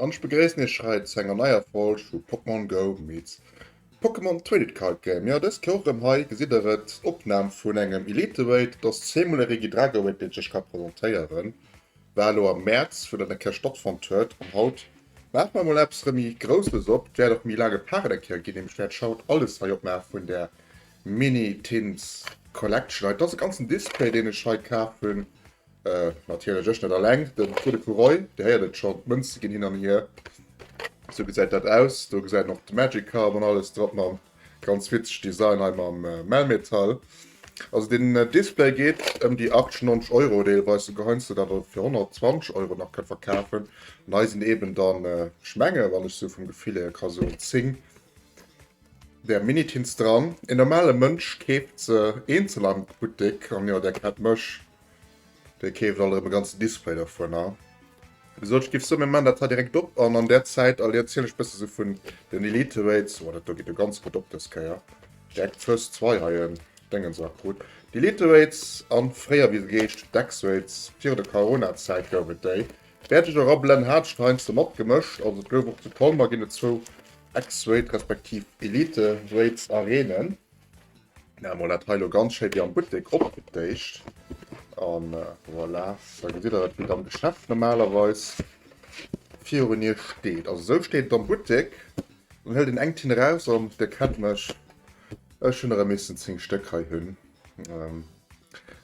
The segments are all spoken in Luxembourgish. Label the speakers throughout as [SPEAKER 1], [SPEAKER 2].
[SPEAKER 1] An ech begréissen iech hei zu enger neier Folg vu Pokémon Go meets Pokémon Tradit Card Game. Jo, dëst Joer erëm hei gesitt der et, Opnam vun engem Elite Raid. Et ass zweemol e Regidrago Raid deen ech iech ka presentéieren, war elo am Mäerz wou dat eng Kéier stattfonnt huet. An haut maache mer emol eppes erëm méi Grousseles op, et wäert och méi laang gepaart eng Kéier ginn, nämlech wäert ech haut alles hei opmaache vun der Mini Tins Collection hei. Et ass e ganzen Display deen ech hei kaf hunn, Natierlech ech net alleng, den Tour de Puroi, Dir héiert et schonn, d'Mënze ginn hin an hier. Sou gesäit dat aus. Do gesäit een och de Magic Carp an alles drop mam ganz witzeg Design hei mam Melmetal. Also den Display geet ëm déi 80, 90 Euro, deelweis souguer heiansdo dat e fir 120 Euro nach kënnt verkafen. An hei sinn eeben dann, ech menge wann ech sou vum Gefill hier ka soen, 10 där Minitins dran. Een normale Mënsch keeft se eenzel am Buttek an jo, där kennt mech, Dei keeft alt erem e ganzen Display dervun an gesot ech giff soen mir man dat hei direkt op an an der Zäit all erzielen ech bessen sou vun den Elite Weights. Woah dat do geet jo ganz gutt op des Keier. Direkt first try hei en Dengens a krut. D'Elite Weights an fréier wéi se geheescht hun Dex Weights virun der Corona Zäit gouf et dei. Wärt ech era blennen hat ech der heiansdo mat gemëscht. Also et gouf och zu Colmer ginn et zwou X Weight respektiv Elite Weights Arenen. Ja, mal dat heilo ganz schéi wie am Buttek opgetéicht. An äh, voilà, da gesitt der et, wéi am Geschäft normalerweis virun ihr steet. Also sou steet et am Buttek. Dann hëlt een eng Tinn raus an dir kennt mech, ech hunn erëm missen 10 Stéck hei hunn. Ähm,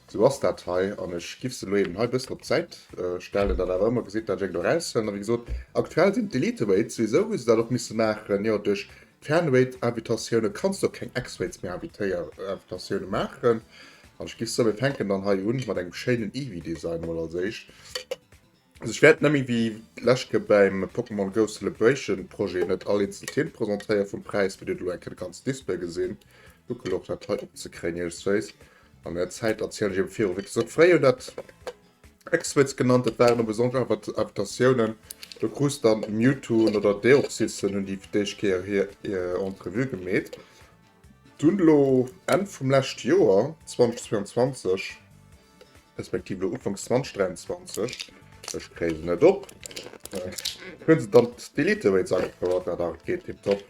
[SPEAKER 1] sou ass dat hei. An ech giff se lo eben hei bëssen op d'Säit äh, stellen, dat awer ëmmer gesitt, dat ech eng do raushëllen. A wéi gesot, aktuell sinn d'Elite Weights, souwisou hu se dat och misse maachen, jo, duerch Fernwéit-Invitatioune kanns du op keng X-Waits méi Invitatioune maachen. An ech giff soe mir fänken dann hei un mat engem schéinen Eevee-Design mol als éischt. Also ech wäert nemmi wéi d'lescht Kéier bäim Pokémon Go Celebration Projet net all eenzel Theme presentéieren vum Präis fir dir elo eng Kéier de ganzen Display gesinn. Gucken och dat hei opzekréien iech es wéisst. An der Zäit erzielen ech iech am viru wéi d'Sort fréi un dat. Exwitz genannt, et waren e besonnesch Invitatiounen, do krus de Mewtwo un oder Deoxys, se hunn déi fir d'éischt Kéier hir Entrevue gemeet. Dunn elo Enn vum leschte Joer 2022, respektiv elo Ufanks 2023, ech kréie se net op, hu se dann d'Elite Rates agefouert, dat awer geet tiptop.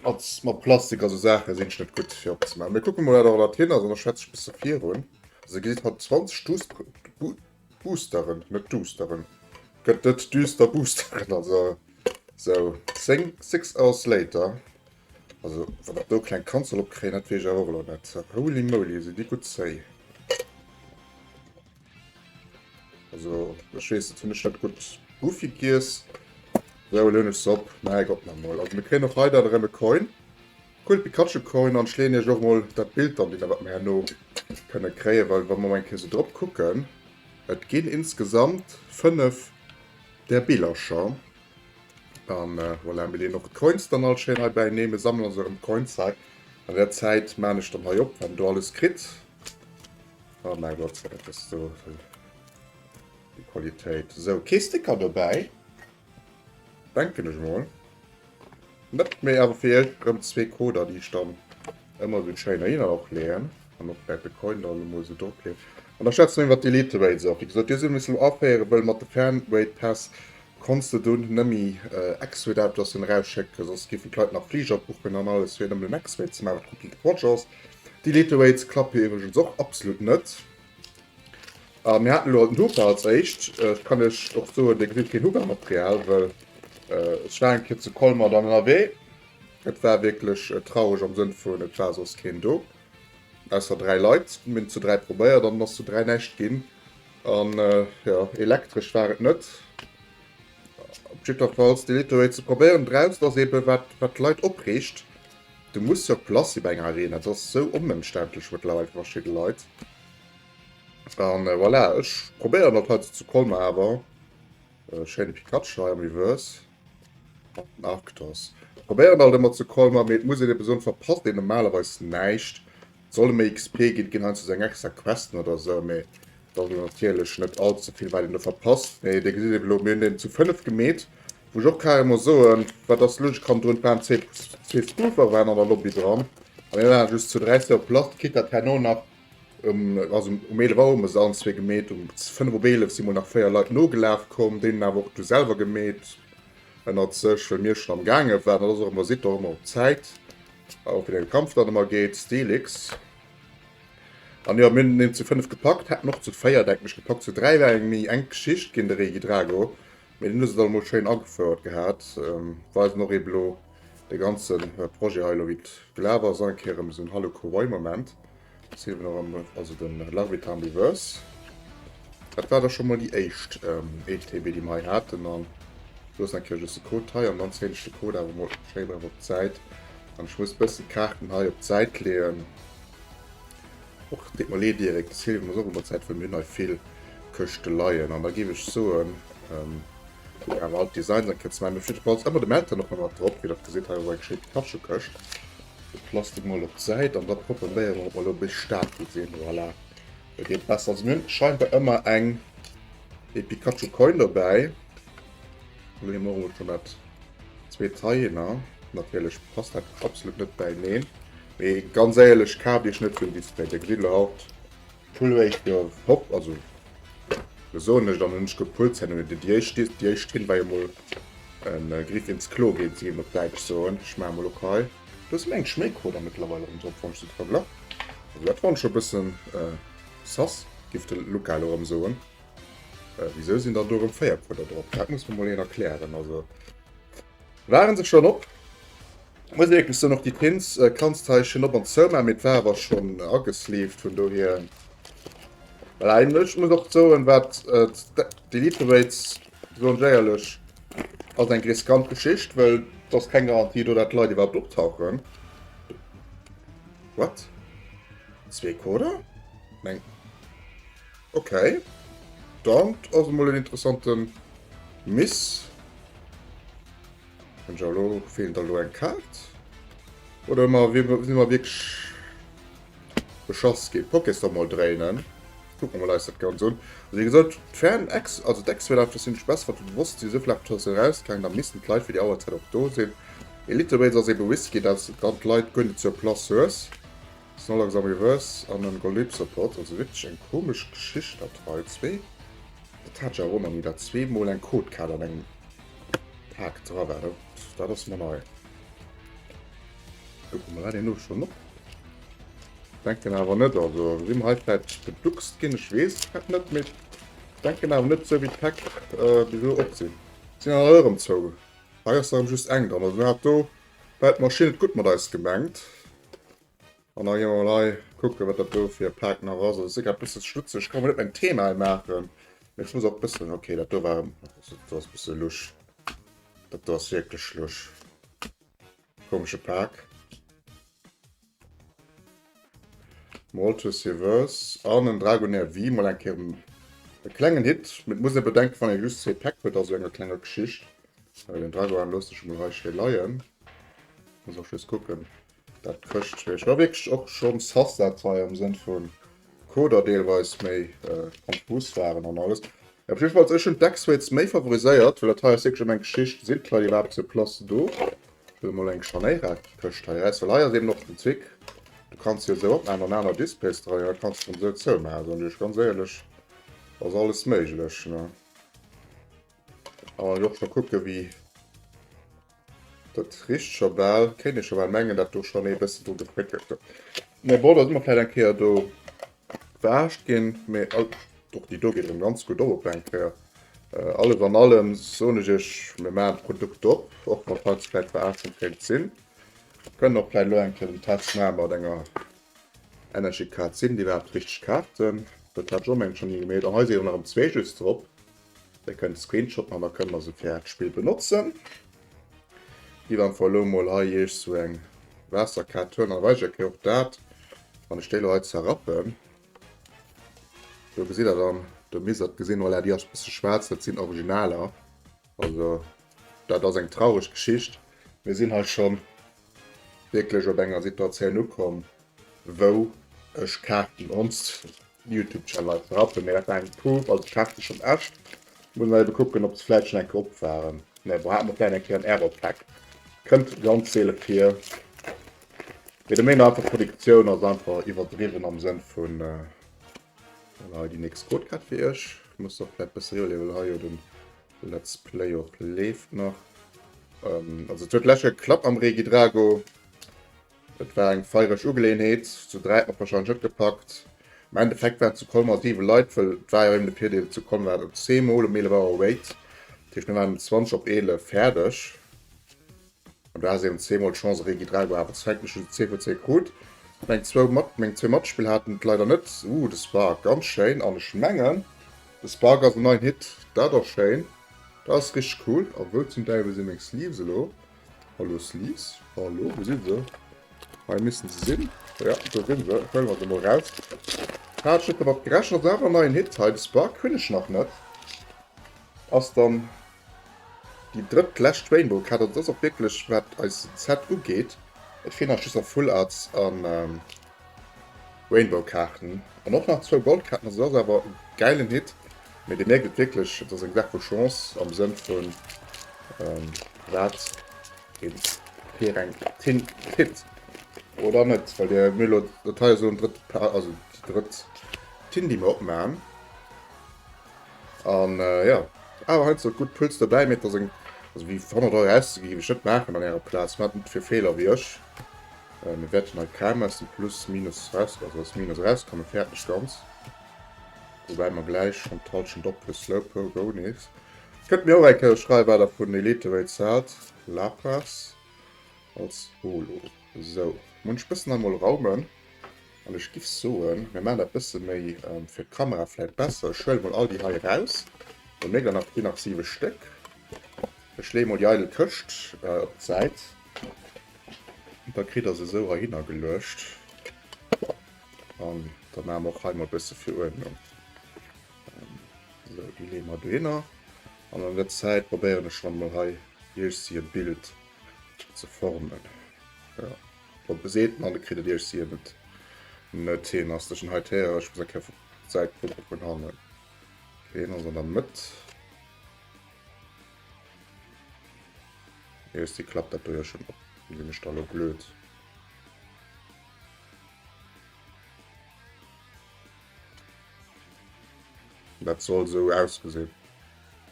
[SPEAKER 1] Als mat Plastik a sou Saache sinn ech net gutt fir opzemaachen. Mee kucke mol wat dat hien ass an da schwätze ech bësse virun. Also e gesäit haut 20 Duus Boosteren, net Duusteren, gëtt net düster Boosteren, also sou 10, 6 hours later. Also wann dat do kleng Kand soll opkréien, dat weess ech awer och elo net. Holy moly, sinn déi gutt zéi. Also, ich weiß, das finde ich nicht gut. Goofy Gears. So, löhne ich es ab. Nein, Gott noch mal. Also, wir kriegen auch heute einen Coin. Cool Pikachu Coin. Und ich lehne euch auch mal das Bild an, den was wir noch können kriegen. Weil, wenn wir mal so drauf gucken, es gehen insgesamt fünf der Billercher. Und äh, voilà, wir lehnen auch die Coins dann all schön herbei nehmen, sammeln unseren Coinsack. In der Zeit mache ich dann hier ab, wenn du alles kriegst. Oh mein Gott, sei dat ass do déi Qualitéit. Sou, kee Sticker dobäi. Denken ech mol net méi, awer fir iech rëm zwee Coder, déi ech dann ëmmer esou schéin heihinner och leeën an och wäert de Coin dann emol esou drop leeën. An da schwätze mer iwwert d'Elite Rates och. Wéi gesot, déi solle missen aféieren, wëll mat de Fan Rate Päss konns de dunn nëmme X-Rate Autoen erausschécken, soss géifen d'Leit nach Fliger buchen an alles, fir nëmmen en X-Rate ze maachen, wat komplette Quatsch ass. Déi Late Weights klappe iwwregens och absolut net. A mir haten elo haut den Hooker als éischt. Et kann lech och soen, dee kritt keen Hooker Material, well ech war eng Kéier zu Colmar dann ënnerwee. Et war wierklech traureg am Sënn vun et war soss keen do, ausser dräi Leit. Mir hunn et zu dräi probéiert an et ass zu dräi näischt ginn. An jo, elektresch war et net. Op jiddwerfalls, déi Late Weights ze probéieren draussen ass eeben wat d'Leit opreegt. Du muss sur place si bei enger Arena, dat ass sou onëmständlech mëttlerweil fir verschidde Leit. An euh, voilà, ech probéieren dat haut zu Colmar awer. Euh, schéine Pikachu hei am Reverse. An Arctos. Probéieren alt ëmmer zu Colmar, mee et muss een eben soen, verpasst een normalerweis näischt. Solle méi XP ginn, ginn heiansdo sou eng extra Questen oder esou, mee et ass elo natierlech net all ze vill wat een do verpasst. Mee Dir gesitt eben elo, mir hunn deen zu 5 gemeet, wou ech och carrément muss soen, wat ass lues, ech kann drun d'Bahn zwee zwee Scooteren waren an der Lobby dran a mir waren just zu dräi sur place, quitte datt herno nach um, also um 11 Auer hu mer se allenzwee gemeet, um 5 op 11 si mol nach véier Leit nogelaf komm, déi hunn awer och du selwer gemeet ënnert sech, well mir schonn am gaange waren. Dat ass och ëmmer, sidd och ëmmer op Zäit, Auch wieder gekämpft dann immer geht Stilix an ja mir den zu 5 gepackt hat noch zu 4 denken ich gepackt zu 3 war eng mi eng Geschicht gin de Regi Drago mir den dann mol schön agefouert gehabt weisen noch eben lo de ganzen Projet hei lo wit gelaver sein keieren so ein Hallo Kowei Moment. Also den Love it Ambiverse. Dat war da schon mal die éischt ähm, ETB die mei hatten an los natürlich just den Code hei an dann zähn ich den Code aber mal schnell mal op Zeit an ich muss bisschen Karten hei op Zeit lehen. Och dit mal eh direkt das Hilfe muss auch über Zeit für mir neu viel Köchte leiien an da gebe ich so ähm, ja, alt Design dann könnt man mir fit Balls aber dem Eltern noch mal drauf wie dat gesehen habe, geschickt Tasche Köcht. De Plastik mol op d'Säit an da probéiere mer op elo bis staark ze sinn. Voilà, dat geet besser. Mir hunn scheinbar ëmmer eng ee Pikachu Coin dobäi. Lo hu mer och schonn dat zweet Hyener. Natierlech passt dat absolut net bäineen. Mee ganz éierlech, kaaft Iech net sou en Display. Dir gesitt elo haut Pull réischt jo hopp also do soen ech dann hunn ech gepullt ze noe de Diéischt di Diéischt hin wei emol en Griff ins Klo geet si op däitsch soen ech maache mol op hei do ass meng Schméicro da mëttlerweil erëm drop wann ech se verglach also dat fann ech scho bëssen sass giff de Luca elo erëm soen wisou sinn der do erëm 4 Puller drop dat muss mer mol een erklären also. Waren se schon op? Muss wierklech soen, och déi Pins äh, kanns hei schön op an zou man, mee war awer schon äh, agesleeved, vun dohier well eigentlech muss och soen, wat äh, d'Elite Raids soen ech éierlech ass eng riskant Geschicht, well et ass keng Garantie do, dat Leit iwwerhaupt optauchen. What? Zwee Coder? Meng. Ok, dann ass emol en interessante Miss. An jo lo fehlen da lo eng Kaart. Oder mal wie si mal wirklich beschoss gin. Poké's da mal dréinen. Kucken mer eis dat ganz un. Also wie gesot, d'Fern Ex, also d'Exwelaf, dat sinn ech bess wat bewosst si souvill awer Touriste erausgaangen, da missten d'Leit fir déi Auerzäit och do sinn. Elite Raid ass ebe Risky, dass dann d'Leit guer net zur Place hues. Snorlax amourös an en Golem-Support, also wierklech eng komesch Geschicht dat hei. Zwee Etage eronner, wou dat zwee mol eng Code-Kaart an engem Pak dra war, dat dat ass mer nei. Kucke mer dat een elo schonn op. Denken awer net, also si mer hei vläit geduckst ginn, ech weess et net, mee denken awer net esou wéi d'Pak bis elo op sinn. Sinn awer erëm zou, hei ass erëm just eng dran, also mir hat do Well hat d'Maschinn et gutt mat eis gemengt. An da gi mer mol hei kucke wat dat do fir e Pak nach ass. Ass sogar e bësse schmutzeg. Kann mer net mäin Thema hei maachen. Mee ech muss och bëssen. Okay, dat do war. Dat do ass e bësse lusch. Dat do ass wierklech lusch. Komesche Pak. Walter Seevers an en Dragonair Wii mol eng Kéier en e klengen Hit. Mä et muss ee bedenken, wann ee just zwee Päck huet, also enger klenger Geschicht, well den Dragoan loosst sech emol hei schéi leien, muss och just kucken, dat d'Këscht wéi ech war wierklech och schonn sass, dat hei am Sënn vu Coder deelweis méi konfus waren an alles. Op jiddwer Fall, ech hunn d'X-Rates méi favoriséiert, well dat hei ass wierklech ëm eng Geschicht, sinn d'Leit iwwerhaapt zur Place do? Hues mol eng scharnéirark Këscht hei reis, well hei ass eben och den Trick, du kanns se jo esou opmaachen an aner Displays dra jo, kanns se dann esou zoumaachen, soen ech iech ganz éierlech, ass alles méiglech ne. Kann een och scho kucke wéi dat richt scho bal, kéint ee scho bal mengen dat do schonn ee bëssen dru gefréckelt huet, mä bon da si mer vläit eng Kéier do. D'Waascht gin mir alt, och déi do geet erëm ganz gutt op op eng Kéier. Alles an allem soen ech iech, mir maachen d'Produkt op, och wann d'Haut vläit veraarzen kéint sin. Kënnt och vläit elo eng Kéier den Test maache mat enger Energy Card, sin déi iwwerhaapt richteg Kaarten? Dat hat Joe mengen ech schon higemail. An hei si erëm nach erëm zwee just drop. Dir kënnt e Screenshot man, da kënne mer se fir d'Spill benotzen. Gitt einfach elo mol hei iech sou eng Waasserkat huelen, da weist iech eng Kéier och dat. Wann ech déi elo hei zerrappen, do gesitt der dann de Misert gesinn. Voilà, déi ass e bësse schwaarz, dat sinn Originaler. Also dat ass eng traureg Geschicht. Mir sinn hei schonn wierklech op enger Situatioun ukomm, wou ech Kaarten ons Youtube Channel hei ze rappen, mee dat war eng Prouf, also ech haat se schon echt, muss nach eben kucken op se vläit schon eng Kéier op waren, mee bon haat mer vläit eng Kéier en Error Pack, kënnt ganz seele vir, mee de Main einfach Produktioun ass einfach iwwerdriwwen am Sënn vun Voilà hei déi nächst Codecard fir iech, ech muss och vläit bëssen riwwer leeën, well hei jo den Let's Play och leeft nach, also et huet lech geklappt mam Regidrago, Et war eng feiereg Ugeleeënheet, zu dräi och wahrscheinlech net gepackt. Am Endeffekt waren et zu Colmar 7 Leit, well et war jo eben de Virdeel, zu Colmar war et op zwee mol um 11 Auer Wait, dat heescht mir waren um 20 op 11 fäerdeg an do has eben zwee mol d'Chance Regi dra gehu awer zu Fenk mech hu se zéi vu zéi krut. Meng zwou mat meng zwee Matspill haten et leider net. Ooh de Spark ganz schéin an ech mengen de Spark ass en neien Hit, dat ass schéin, dat ass richteg cool a wou zum Däiwel sinn meng Sleeves elo? Hallo Sleece, hallo, wou sinn se? Hei missten se sinn, jo do sinn se, huelen mer se emol raus. Hat ech net dermat gerechent, ass awer en neien Hit hei, de Spark hunn ech nach net. Ass dann déi drëtt lescht Rainbow Kaart, also dat ass och wierklech wat eis Set ugeet, et feelen eis just nach Full Arts an. Rainbow Kaarten an och nach zwou Gold Kaarten, also ass awer e geilen Hit, mee dir mierkt et wierklech, et ass eng Saach vu Chance am Sënn vun wat een fir eng Tint kritt oder net, well dir mir elo, dat hei ass elo den drëtt Pack, also déi drëtt Tint déi mir opmachen an jo, awer heiansdo gutt Puls dobäi, mee et ass eng, also fir 100 Euro auszegi géif ech net maachen an ärer Plaz, maacht net fir Feeler wéi ech. Mir wäerten hei d'Kraam aus dem Plus, Minus, also aus dem Minus erauskommen, fäerdeg ganz. Woubäi mer gläich schonn d'Hallschent ophuelen, Slowpoke goe nees. Kënnt mir och eng Kéier schreiwen, wat Der vun Eliterates haalt, Lapras als Holo. Sou, hunn ech bëssen emol Raumen an ech giff soen, mir maachen dat bësse méi fir d'Kamera vläit besser. Ech huele mol all déi hei eraus, mir hunn nach hei nach siwe Stéck. Ech leeë mol déi eidel Këscht op d'Säit. Da kritt der se esou heihinner geluecht. An da maache mer och hei mol e bësse fir Uerdnung. Esou, déi leeë mer dohinner. An an der Zäit probéieren ech dann mol hei iech e Bild ze formen. Jo, op e seet mer, de kritt et iech sien et net hin. Ass dech en hei d'Héierer? Ech muss eng Kéier vu d'Säit kucke vun hannen. Deen ass an der Mëtt. Yes, die klappt dat ja schon op. Wie sinn ech da lo blöd? Dat soll so ausgesinn.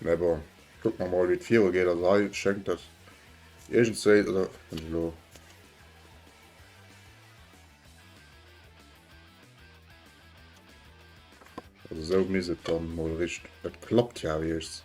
[SPEAKER 1] Me bon, guck man mal wie d'Viro geht as hei schenkt dat. Irgend se oder lo. Also so mis et dann mal rich. Et klappt ja wiechts.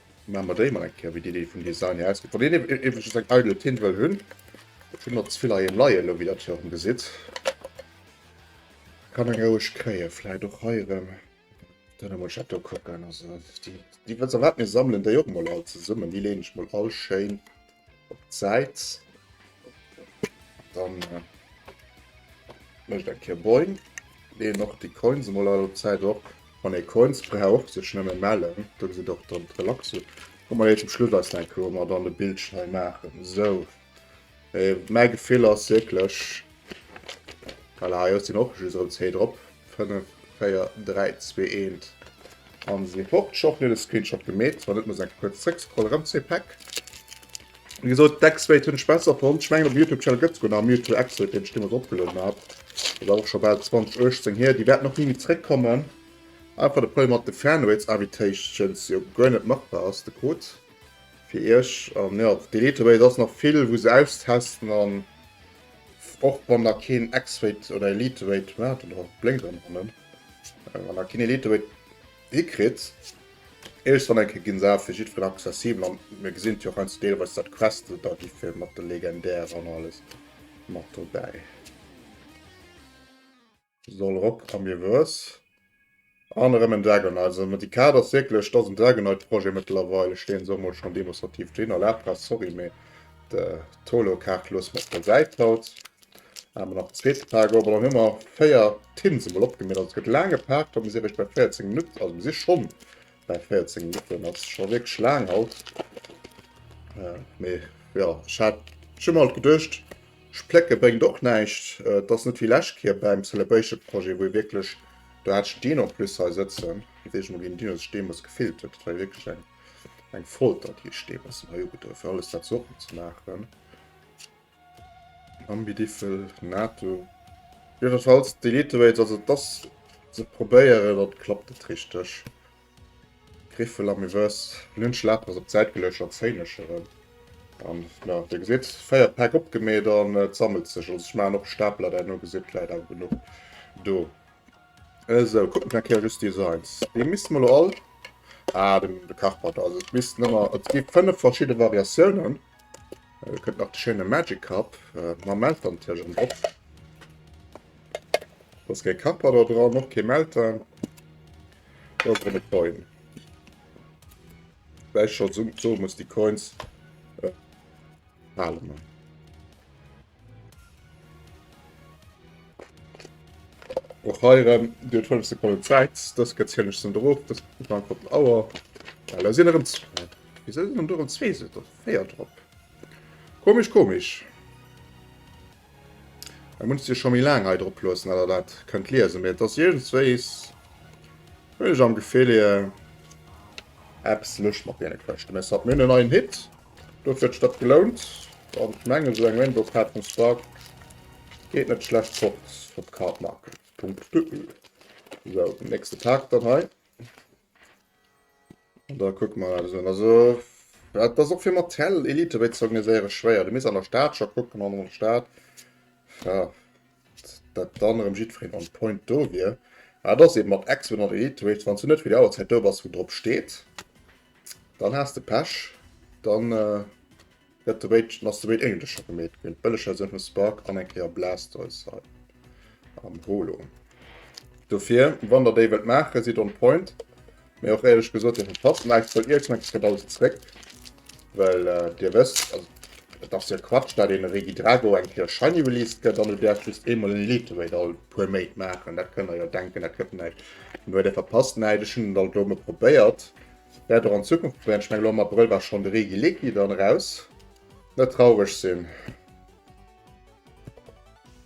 [SPEAKER 1] Maan mer déi mol eng kéier wéi déi déi vun Designy ausgeet. Wann een eben just eng eidel Tint wëll hunn, ech hunn der zevill heiheem leien elo wéi der jo erem gesitt, kann eng roueg kréien. Vläit och hei erem dann emol ech dat do kucken, also déi wëlls a wat mir sammelen déi och mol all zesummen, déi leen ech mol all schéin op d'Säit. Dann äh, mecht eng Kéier Boing. Leen noch déi Coins emol all op d'Säit op. Wann ee Coins braucht, sech nëmme mellen. Da gesitt och dann d'Relaxo. Komm mal zum Schluss eis denken, wou mer dann de Bildschirm maachen. Esou. Äh, mäi Gefill ass wierklech, Voilà, jo, et sinn och just erëm 10 drop. 5, 4, 3, 2, 1 a se sinn fort. Schonn hunn ech de Screenshot gemeet. Wann net, muss ech eng Kéier kuerz zréckscrollen. Erëm zwee Päck. Wéi gesot, d'X-Weight hunn ech besser fonnt. Ech mengen, op dem YouTube-Channel gëtt souguer nach e Mewtwo X-Weight, deen ech deemools eropgelueden hat. Dat ass awer och scho bal 2018 hier. Déi wäerten och ni méi zréckkommen. Einfach de Problem mat de Fanraids Invitations, jo guer net machbar ass. De Code fir iech. An jo, d'Elite Raid ass nach vill, wou se austesten an Och wann der keen X-Weight oder Elite-Weight hat, oder och bléng dran hannen, wann der keen Elite-Weight hikritt, eréischt dann eng Kéier ginn se awer fir jiddwereen accessibel an mir gesinn jo och heiansdo deelweis dat d'Queste da gi fir mat de Legendären an alles mat dobäi. Soll rop am Miwwes. An erëm en Dragonite. Also mat déi Kaart ass wierklech, dass en Dragonite-Projet mëttlerweil, ech leeën se och mol schonn demonstrativ do hin, a Lapras, sorry, mee d'Holo-Kaart loosse mer op der Säit haut. Hate mer nach en zweete Pak op. An dann hu mer véier Tins emol opgemiert. Also et gëtt laang gepaakt, wa mir si eréischt bei 14 Minutt, also mir si schonn bei 14 Minutten, dat ass scho wierklech laang haut. Mee jo, ech hat, ech hu mer halt geduecht, Splécke bréngt och näischt. Et ass net wéi lescht Kier beim Celebration Projet, wou ee wierklech, do hat ech deen en plus hei sëtzen, et seet emol een, deen huet sech deemools gefillt huet, dat war jo wierklech eng eng Folter, déi ech deemools den hei ugedoen hunn, fir alles dat sou opzemaachen. Ambidiffel, Nato. Jiddefalls, d'Elite Weights, also et ass ze probéieren, dann klappt et richteg. Griffel am Gewëss. Lynch Lapen ass op d'Säit geluecht an Zéinesch erëm. An jo, Dir gesitt, 4 Päck opgemeet an et sammelt sech. Also ech maachen och Stapler derno, gesitt, et läit awer genuch do. Esou, kucke mer eng Kéier just Designs. Déi misste mer elo all, ah, de Karpert, also et missten ëmmer, et gi 5 verschidde Variatiounen. Elo kënnt nach de schéine Magic Cup. Mam Melter natierlech ëm drop. Do ass kee Kapper do dran, och kee Melter. Do ass erëm e Coin. Wéi ech scho soe muss, déi Coins behale mer. Och hei erëm, Dir huet 5 Sekonnen Zäit. Dës gëtt zielen ech zum Drop. Dës gucke mer einfach op d'Auer. Well da sinn erëm zwee. Wisou sinn do erëm zwee? Sot der véier drop. Komesch, komesch. Ech muss Dir scho méi laang hei drop loossen, datt Der dat kënnt liesen. Mee et ass iergendswéis, hunn ech am Gefill, eppes lech mat deene Quëschte. Mee soit, mir hunn en neien Hit. Dofir huet sech dat gelount an d'Gemeng esou eng Rainbow Card vum Spark geet net schlecht fort op cardmarket.eu. Sou den nächste Tag dann hei an da kucke mer dat un. Also dat ass och fir Mattel Elite wéi ze organiséiere schwéier. Du misst an der Stad scho kucken an an der Stad. dat dann erëm jiddfereen on point do wier. Mä et ass eben mat Exponent an Iterate, wanns du net fir déi Auerzäit do bass wou drop steet, dann has de Pech, dann gëtt de Rage, dann ass de Raid eigentlech scho gemeet ginn. D'Bëllegversioun vum Spark an eng Kéier Blastoise hei am Holo. Dofir wann der déi wëllt maachen, sidd on point. Mee och éierlech gesot, Dir verpasst den Ice Cold Earthquake, dës gëtt alt zréck, well Dir wësst, also et ass jo Quatsch, dat een Re Gidrago eng Kéier shiny released gëtt an Dir däerft just eemol en Elite Raid all puer Méint maachen. Dat kënnt Der jo denken, dat gëtt näischt. Mee huet Dir verpasst, näischt. Ech hunn et alt elo emol probéiert, wäert och an Zukunft probéieren. Ech mengen, elo am Abrëll war schonn de Re Gileki dann eraus. Net traureg sinn.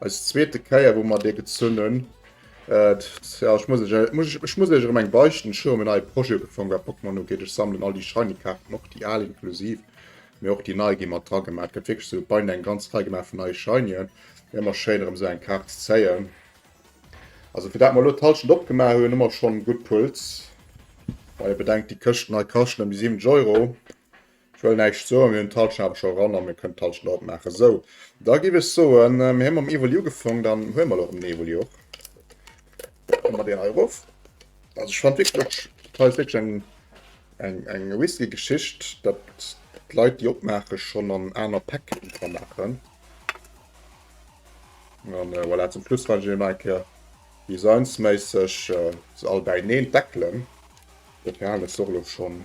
[SPEAKER 1] Als zweete Käier wou mer dee gezënnen. Äh, ja, ich muss, ich, muss, ich muss euch eng beichten schon um neue Projet gefangen war Pokémon no geht. Ich sammeln all die shiny Karten och die al inklusiv mir och die neue gi mat dra gemacht gëtt wirklich so bei eng ganz Rei gemacht vun neue Shinien immer schéin um se eng Kart ze zéien. Also fir dat mal lo d'Halschent opgemaach hunn, hummer schon gutt Puls. Wa ihr bedenkt, die Këscht nei kascht nëmme 7 Euro. Ech wëll näischt soen, mir hunn d'Halschent awer scho ran a mir kënnen d'Halschent och opmaachen. Sou, da giff ech soen, mir hu mam Evoli ugefongen, dann huele mer elo erëm den Evoli op. Da komme mer deen hei erof. Also ech fannen wierklech och, dat hei ass wierklech eng, eng, eng Whisky-Geschicht, datt d'Leit, déi opmaachen, schonn an aner Päck dra maachen. A voilà, zum Schluss fannen ech elo nach eng Kéier designsméisseg se all bäineen d'Deckelen. Dat hei halen ech se och elo schonn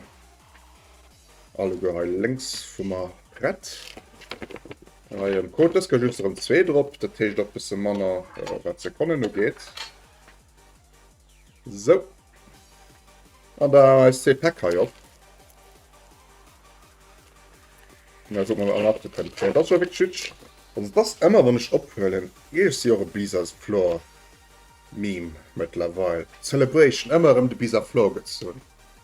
[SPEAKER 1] Alleguer hei lénks vu mer prett. Hei am Code dës gëll just erëm zwee drop, dat heescht och bësse manner wat Sekonnen ugeet. Sou. An da eis zwee Päck hei op. Ja, guck mal, an abgekönnt. Okay, das war wirklich hübsch. Also das ist immer, wenn ich ophuelen. Ich sehe auch ein Bisa Flor Meme mittlerweile. Celebration, immer um den Bisa Flor gezogen.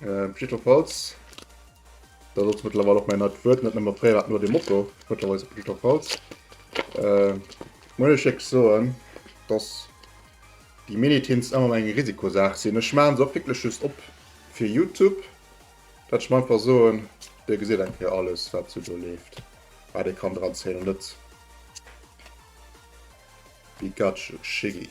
[SPEAKER 1] Ähm, jiddwerfalls, dat ass mëttlerweil och mäin neit Wuert, net nëmme fréier war et nur de Motto, mëttlerweil ass et jiddwerfalls. Ähm, muss ech iech soen, dass déi Mini-Tints ëmmer eng Risikosaach sinn. Ech maachen se och wierklech just op fir Youtube, dat ech mer einfach soen, Dir gesitt eng Kéier alles, wat esou do leeft, wat ee kann dranzéien, an net déi Gadget-Schiggi.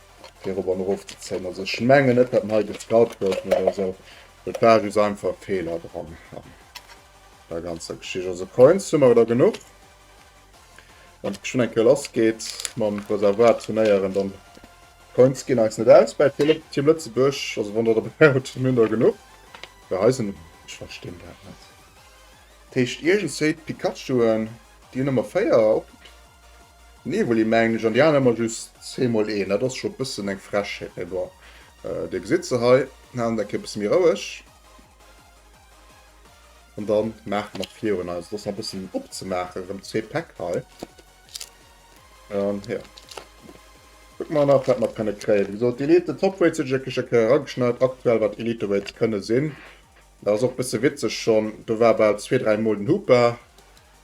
[SPEAKER 1] fir erop an erof ze zéien. Also ech mengen net dat hei gescout goufen oder esou, et war just einfach e Feeler dran an der ganzer Geschicht. Also Coins hu mer der genuch. Wann et geschwënn eng Kéier lass geet mam Reservoir turnéieren, dann Coins ginn eis net aus bei Team Lëtzebuerg. Also wann der dobäi hutt, mir hunn der genuch. Bei eisen, ech verstinn dat net. Dat heescht iergendwéi d'Pikachuen. Déi hun emmer 4 op Nivoli mengen ech an déi aner emmer just zweemol een. Dat ass scho bessen eng Frechheet mee bon dir gesitt se hei. Haalen der Kéier bessen méi roueg an dann maachen nach virun eis. Et ass nach bessen opzemaachen rem zwee Päck hei an jo kucken mer nach wat mer kënne kréien. Wéi gesot Elite Top Weights hunn ech a Kécher erageschneit aktuell wat Elite Weights kënne sinn. Dat ass och bësse witzeg schonn, do war bal zwee, dräi mol den Hooper.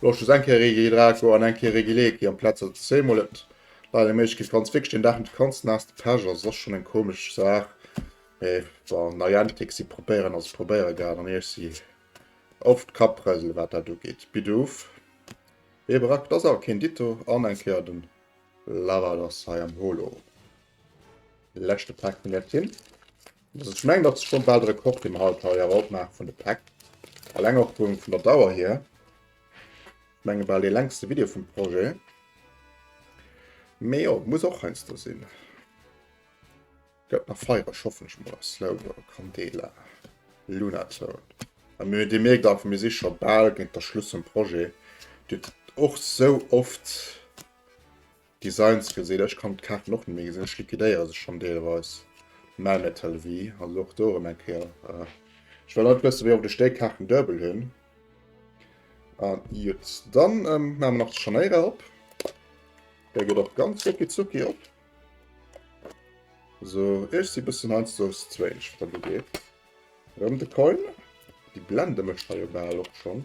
[SPEAKER 1] Lo just eng Kéier Regi Draco an eng Kéier Regi Leki am Platz, also zwee mol. Et leider méiglech ginn, ganz wierklech deen Dag net ganz naass ze pechen, also et ass schonn eng komesch Saach. Mee bon, Niantic, si probéieren, also probéiere grad an iech si op d'Kapprësele wat dat ugeet. Bidoof, wee brak, et ass awer keen Ditto an eng Kéier den Lavados hei am Holo. Leschte Pak vun der Tin. Also ech mengen dat ass schon bal de Rekord dee mer haut hei awer opmaache vun de Päck. Alleng och vun vun der Dauer hier. Ech menge bal dee längste Video vum Projet. Mee jo et muss och heiansdo sinn. Gëtt nach feiereg hoffentlech mol a Slow Mo, Candela, Lunatone. A mir Dir mierkt awer mir si scho bal géint der Schluss vum Projet. Dir kritt och sou oft Designs gesinn. Ech kann d'Kaarten och net méi gesinn. Ech liquidéiere se schonn deelweis. Melmetal V, also och do erëm eng Kéier. Ech well alt wëssen, wéi oft ech déi Kaarten duebel hunn. A jut, dann maache mer nach de Scharnéirer op. Dee geet och ganz ruckizucki op. Sou, ech si bëssen heiansdo z'wéineg, wat dat ugeet. Rem de Coin. Déi Blende mécht der jo bal och schonn.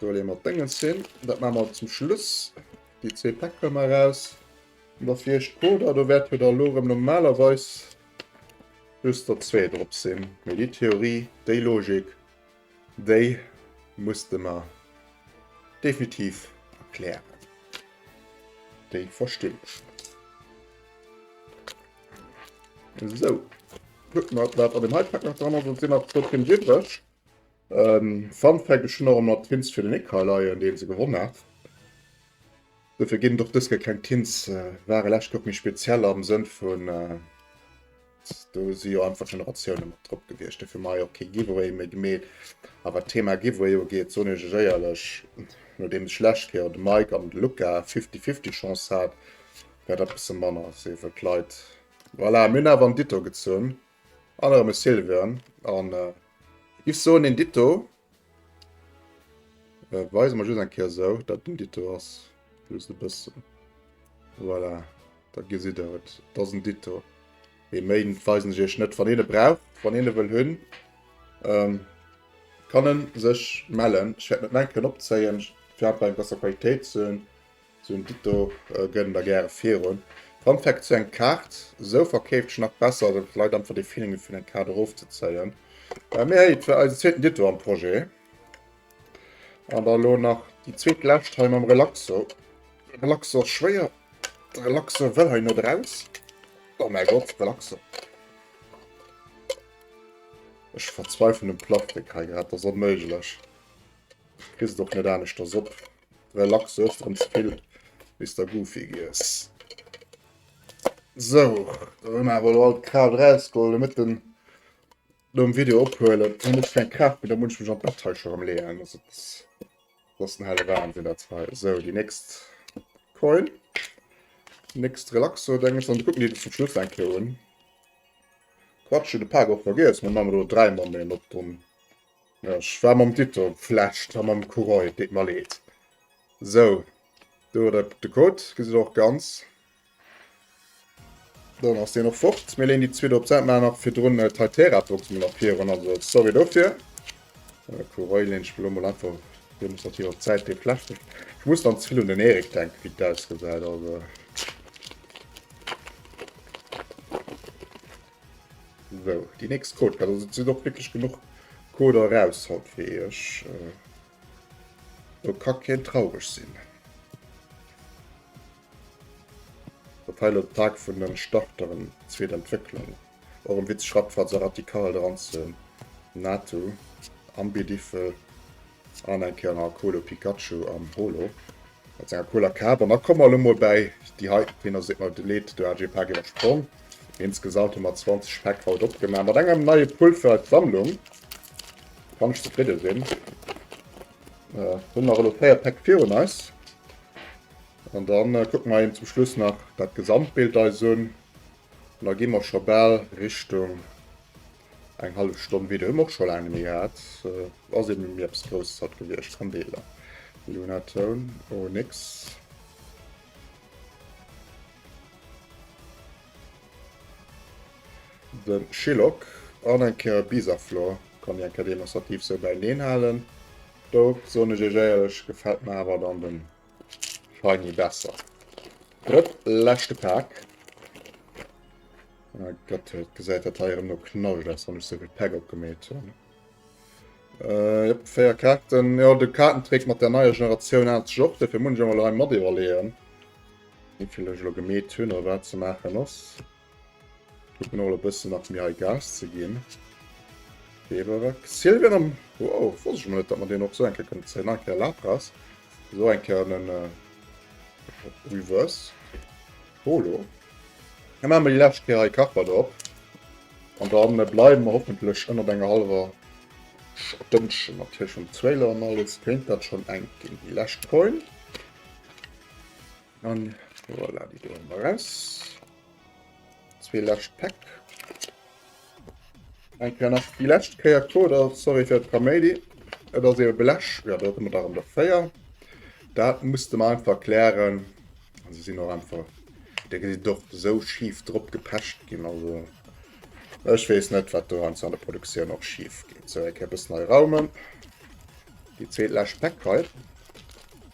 [SPEAKER 1] Do leeë mer d'Déngens hin. Dat maache mer zum Schluss. Déi zwee Päck huele mer eraus. An da fir Iech d'Coder. Do wäerte der elo erëm normalerweis just der zwee drop sinn. Mee déi Theorie, déi Logik. Déi muss de mer definitiv erklären, déi verstinn ech net. Esou, kucke mer wat an dem heite Pak nach dran ass, et sinn nach zwou Pins iwwreg. Fun Fact, ech hunn och ëmmer d'Pins fir den Ikaar leien, dee se gewonn hat. Dofir ginn et och dës Kéier keng Tints. Ware lescht Joer méi speziell am Sënn vun, do si jo einfach Generatioune mat drop gewiescht. Dofir hu mer hei och kee Giveaway méi gemeet. A wat d'Thema Giveaway ugeet, soen ech iech éierlech, nodeems ech lescht Kéier de Mike an de Luca fifty-fifty Chance hat, war dat e bësse manner a si wëll d'Leit. Voilà, mir hunn awer en Ditto gezunn an erëm e Silveren. An ech soen, deen Ditto Äh, weise mer just eng Kéier esou, dat den Dito ass. Just e bëssen. Voilà, da gesitt der et. Dat ass en Dito. Ee méi weisen ech iech net. Wann een e brauch, wann een e wëll hunn, ähm, kann e sech mellen. Ech wäert net mengen, kënnen opzéien, fir einfach eng besser Qualitéit ze hunn. Sou en Dit do gëtt en der gäre virun. Fun Fact zu eng Kaart, sou verkeeft ech nach besser, well et leit einfach dee Feeling vun eng Kaart erof ze zéien. Mee hey, et war eisen zweeten Ditto am Projet. An da lo nach déi zweet lescht hei mam Relaxo. Relaxo ass schwéier, de Relaxo wëll hei net eraus. Oh mäi Gott, Relaxo. Ech verzweifeln um Plastik hei grad, dat ass onméiglech. Kriss et och net aneschters op. Relax, du hues drem zevill bis der Goofy giess. Sou, do hu mer awer elo all d'Kraaft erausgeholl, domat den nom Video ophuelen hu net keng Kraaft méi, da muss ech mech an d'Bett hei scho rem leeën, dass et dat ass den helle Wahnsinn dat hei. Sou, déi nächst Coin, déi nächst Relaxo deng ech, dann kucken déi zum Schluss eng Kéier un. Quatsch, hunn e Pak och vergiess, mee maache mer elo dräi Mammen op dunn. Ech war mam Tuto flecht a mam Courant, et deet mer leed. Sou, do huet der de Code, gesitt der och ganz. Dann ass deen och fort. Mir léen déi zwee do op d'Säit, maachen nach virdrun d'Hytera-Box mol nach virun, also sorry dofir. Äh, Courant leen ech elo mol einfach demonstrativ op d'Säit, dee flecht ech. Ech muss dann ze vill un den Erik denken, wéi dat ausgesäit, also. So, die nächst Code kann also sinn och wirklich genug Code raus haut fir iech. Do äh, ka keen traureg sinn. Dat heil op Tag vun den Starteren zweet Entwécklung. Och en Witz Schrappfahrt se radikal dran ze NATO am Bierdiffel An eng Kéier nach e Colo Pikachu an Holo mat senger cooler Kap. An da komme mer elo mol bäi déi hei, wéi der seet, mer leed, do hat ech ee Pak iwwersprong. Insgesamt hu mer 20 Päck haut opgemaach. Mat engem neie Pull fir eis Sammlung kann ech zefridde sinn. Mir hunn nach elo véier Päck virun eis. An da kucke mer eben zum Schluss nach dat Gesamtbild eis un. An da gi mer scho bal Richtung. Eng hallef Stonn Video hu mer och scho laang net méi gehat. Ass eben elo ni eppes Grousses haut gewiescht. Kandeeler, Luna, Toun, Onyx. Den Chillock an eng Kéier Bisaflor kann déi eng Kéier demonstrativ sou bäineen halen. Dout soen ech iech éierlech, gefällt mer awer dann den Scheini besser. Drëtt leschte Pak. Oh Gott, dat gesäit dat heirem no knallg ass, wann ech souvill Pack opgemeet hunn. Äh, yep, 4 Karten. Ja, de Kartentrick mat der neier Generatioun hat sech op, dofir muss ech emol hei mat iwwerleeën, wéivill ech lo gemeet hunn oder wat ze maachen ass. Kucken och e bëssen nach mir hei Gas ze ginn. Beberak. Sylvian am. Wow, wosst ech net, dat man deen och so enke kënnt zéien. Enke Lapras. So enke an den äh, Reverse. Polo. Dann machen wir die letzte Kehr hei Karper drauf. Und dann äh, bleiben wir hoffentlich ënnert enger halber Stëndchen mat Hirsch und Zweiler an alles. Kéint dat schon eng ginn. Die letzte Coin. An voilà, déi do hun mer raus. Zwee lescht Päck. Eng Kéier nach déi lescht Kéier Coder, sorry fir d'Kaméidi. Et ass eben Blech, jo do hun mer der erem der 4. Dat musste mer einfach klären. An se sin och einfach, déi gesi dort esou schif drop gepecht gin, also ech wees net wat do heiansdo an der Produktioun och schif geet. Sou, eng Kéier e bëssen hei raumen. Déi zweet lescht Päck hei.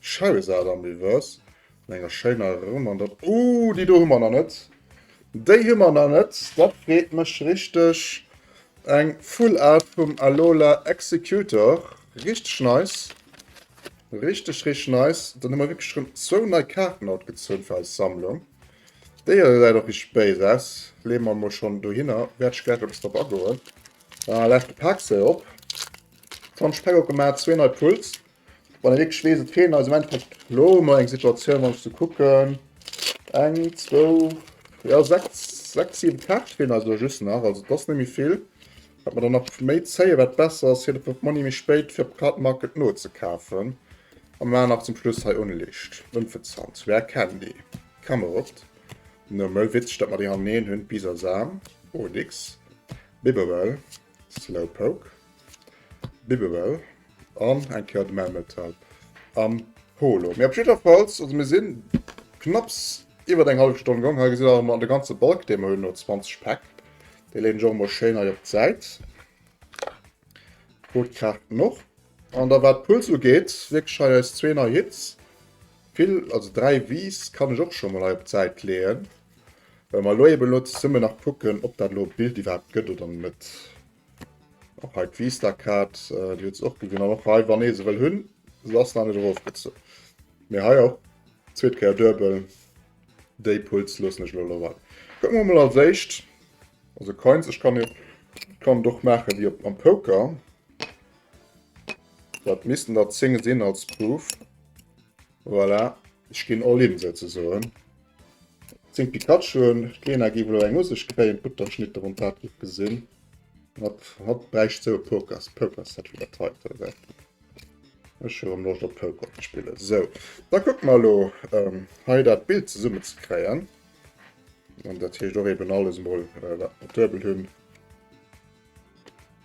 [SPEAKER 1] Charizard am Reverse. An enger schéiner Erëm. An dann. Ooh, déi do hu mer nach net. Déi hu mer nach net. Dat freet mech richteg. Eng Full Art vum Alola Exeggutor. Richteg nice. Richteg, richteg nice. Dann hu mer wierklech erëm zwou nei Kaarten haut gezunn fir eis Sammlung. Déi hei gesäit och richteg béis aus. Leeë mer emol schonn dohinner. Wäert ech gläich eppes drop agoen. Laanscht de Parksee op. D'Honschpäck opgemaach. Zwee nei Pulls. Wann e wierklech weess, et feelen eis am Endeffekt elo mol eng Situatioun, wann ech se kucken, eng, zwou, ja sechs, sechs, siwe Kaarte feelen eis elo just nach. Also dat ass net méi vill. Wat mer dann nach méi zéien, wat besser ass, fir de Pop Money méi spéit fir op Card Market nozekafen. A mer maachen nach zum Schluss hei Unlicht, Unfezant, Rare Candy, Camelot, Nummel, witzeg dat mer déi hannereen hunn, Bisasam, Onyx, Bibarel. Slowpoke, Bibbewell an eng Kéier de Melmetal am Holo. Mee op jiddwerfalls, also mir sinn knapps iwwert eng hallef Stonn gong. Hei gesitt der emol an de ganze Balk, dee mer hunn, no 20 Päck. Dee leeën ech och emol schéin hei op d'Säit. D'Boot kraacht en och. An da wat d'Pulls ugeet, wierklech hei eis zwee nei Hits. Vill, also dräi Wiiss kann ech och scho mol hei op d'Säit leeën. Well mer elo eben elo zesummen nach kucken, ob dat elo e Bild iwwerhaapt gëtt oder net. Och hei d'Vista-Kaart, déi huet se och gewunn. An och hei, wann ee se wëll hunn, se ass nach net erofgezunn. Mee hei och, zweet Kéier duebel, déi Puls loossen ech elo elo wei. Kucke mer emol als éischt, also Coins, ech kann jo, ech kann et och maache wéi op am Poker. Dat missten der 10 sinn als Proof. Voilà, ech ginn all in souzesoen. Zéng Pikachuen, d'Lena géif elo eng u sech kréien, d'Butterschnitter um Pad giff gesinn. Hatt hatt bräicht sou e Pokers Pokerset wéi dat heiten, oder wat? Ech hu erëm Loscht op Poker ze spillen. Sou, da kucke mer elo hei dat Bild zesummen ze kréien. An dat heescht och eeben alles emol, wat mer duebel hunn.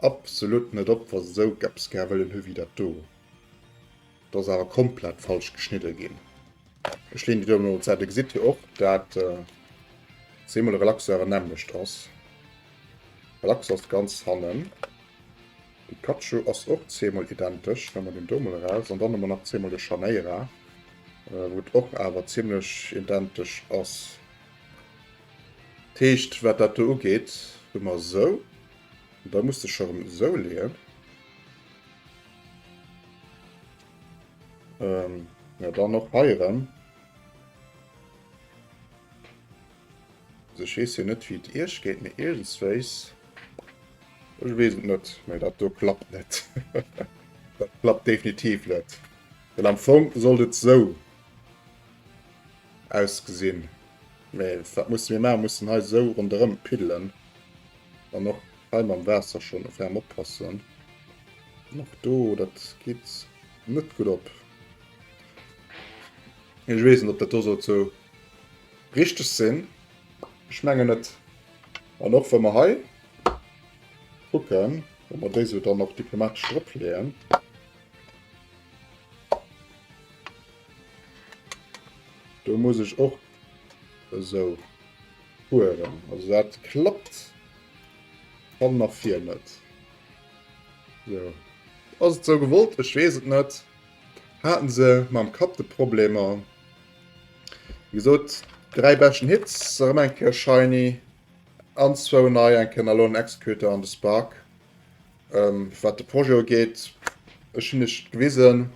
[SPEAKER 1] Absolut net op wa se sou gepps gär wëllen hu wéi dat do. Do ass awer komplett falsch geschnidde ginn. Ech leen déi do emol un d'Säit. Dir gesitt jo och dat zeemol Relaxeur en nämmlecht ass. Relaxeur ass de ganz hannen. Pikachu ass och zeemol identesch. Nemme mer deen do mol eraus an dann hu mer nach zeemol de Charneira wou et och awer zimmlech identesch ass. Dat heescht wat dat do ugeet hu mer sou. Da muss de Schirm sou leeën. Ähm, ja dann och hei erëm. Also ich wees jo net wie et Iech geet, mee iergendswéis, ech wees et net, mee dat do klappt net. dat klappt definitiv net. Well am Fong sollt et sou ausgesinn. Mee wat musse mir maachen? Mussen hei esou ronderëm piddelen an och hei mam Waasser schonn e ferm oppassen. An och do, dat geet net gutt op. Ech weess net, ob dat do sollt esou richteg sinn. Ech mengen net. An och wa mer hei kucken, wa mer déi esou dann och diplomatesch dropleeën. Do muss ech och. Esou. Fueren. Also dat klappt. Fall nach vir net. So. Ass et sou gewollt? Ech wees et net. Haten se mam Kapp de Problemer. Wie gesot, dräi Bäschen Hits, erëm eng Kéier Shiny an zwou nei enken a lo en Executor an de Spark. Ähm, wat de Projet ugeet, ech hunn iech gewisen,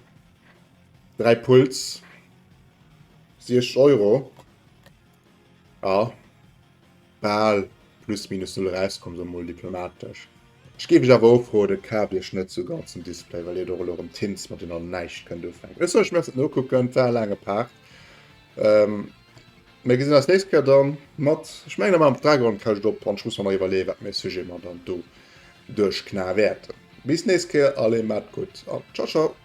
[SPEAKER 1] 3 Puls. 60 Euro. Ja. Bal plus minus null rauskomm so mol diplomatisch. Ich gebe ich awer ofro de Kaf Iech net zu ganzen Display, well Dir do erëm Tints mat den an näischt kënnt ufänken. Ech soll mir no kucken war lange Part. Ähm, mir gesinn als nächste Kehr dann mat ich meine mal am Dragon kann ich op an ich muss mal iwwerlee wat mir Sujet man dann do durchkna werden. Bis nächste Kehr alle mat gut an ciao ciao.